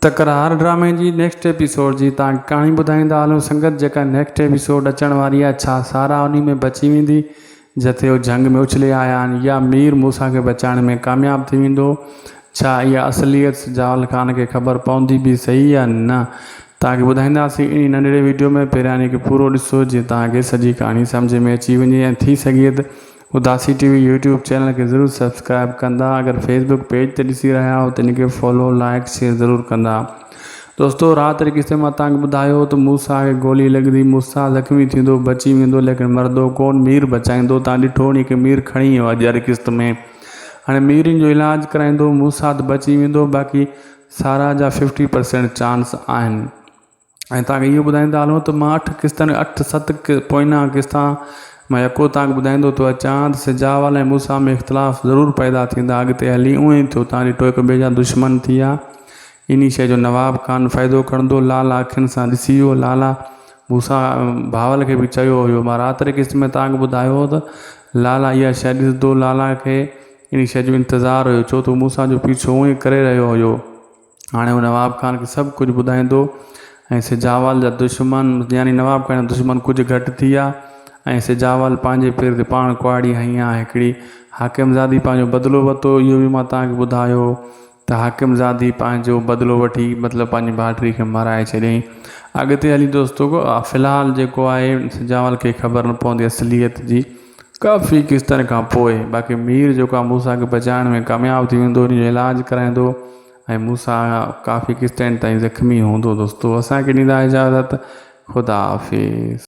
تڪرار ڊرامي جي نيڪسٽ ايپيسوڊ جي تان ڪهاڻي ٻڌائيندا هلون سنگت جيڪا نيڪسٽ ايپيسوڊ اچڻ واري آهي ڇا سارا انهي ۾ بچي ويندي جتي هو جهنگ ۾ اڇلي آيا آهن يا مير موسيٰ کي بچائڻ ۾ ڪامياب ٿي ويندو ڇا اها اصليت سجاول خان کي خبر پوندي به سهي يا نه توهان کي ٻڌائينداسي انهي ننڍڙي ويڊيو ۾ پهريان انهي کي پورو ڏسو جيئن توهان کي سڄي ڪهاڻي سمجهه ۾ اچي وڃي ۽ ٿي سگهي ته اداسي ٽي وي يوٽيوب چينل کي ضرور سبسڪرائب ڪندا اگر فيس بڪ پيج تي ڏسي رهيا آهيو ته ان کي فالو لائڪ شيئر ضرور ڪندا دوستو رات واري قصي مان تانکي ٻڌايو ته موسا کي گولي لڳندي موسا زخمي ٿيندو بچي ويندو ليڪن مردو ڪون مير بچائيندو تان ڏٺو هوني کي مير کڻي ويو اڄ واري قسط ۾ هاڻي مير ان جو علاج ڪرائيندو موسا ته بچي ويندو باقي سارا جا ففٽي پرسينٽ چانس آهن ۽ تان کي اهو ٻڌائين ٿا هلون ته مان اٺ قسطن اٺ ست پوئنا قسط مان يڪو تان کي ٻڌائيندو ٿو اچان ته سجا وال ۽ موسا ۾ اختلاف ضرور پيدا ٿيندا اڳتي هلي اونئن ئي ٿيو تان ڏٺو هڪ ٻئي جا دشمن ٿي ويا انهي شيء جو نواب خان فائدو کڻندو لال اکين سان ڏسي ويو لالا موسا بهاول کي به چيو هيو مان رات واري قسط ۾ تان کي ٻڌايو هو ته لالا اها شيء ڏسندو لالا کي انهي شيء جو انتظار هيو ڇو ته موسا جو پيڇو اونئن ئي ڪري رهيو هيو هاڻي هو نواب خان کي سڀ ڪجهه ٻڌائيندو ۽ سجاول جا دشمن يعني نواب خان جا دشمن ڪجهه گهٽ ٿي ويا ۽ سجاول پنهنجي پير تي پاڻ ڪهاڙي هنئي ها هڪڙي حاڪمزادي پنهنجو بدلو ورتو اهو به مان توهان کي ٻڌايو ته حاڪمزادي پنهنجو بدلو وٺي مطلب پنهنجي ڀائٽي کي مارائي ڇڏيائين اڳتي هلي دوستو في الحال جيڪو آهي سجاول کي خبر نه پوندي اصليت جي ڪافي قسطن کان پوء باقي مير جيڪو آهي موسيٰ کي بچائڻ ۾ ڪامياب ٿي ويندو ان جو علاج ڪرائيندو ۽ موسيٰ ڪافي قسطين تائين زخمي هوندو دوستو اسان کي ڏيندا اجازت خدا حافظ.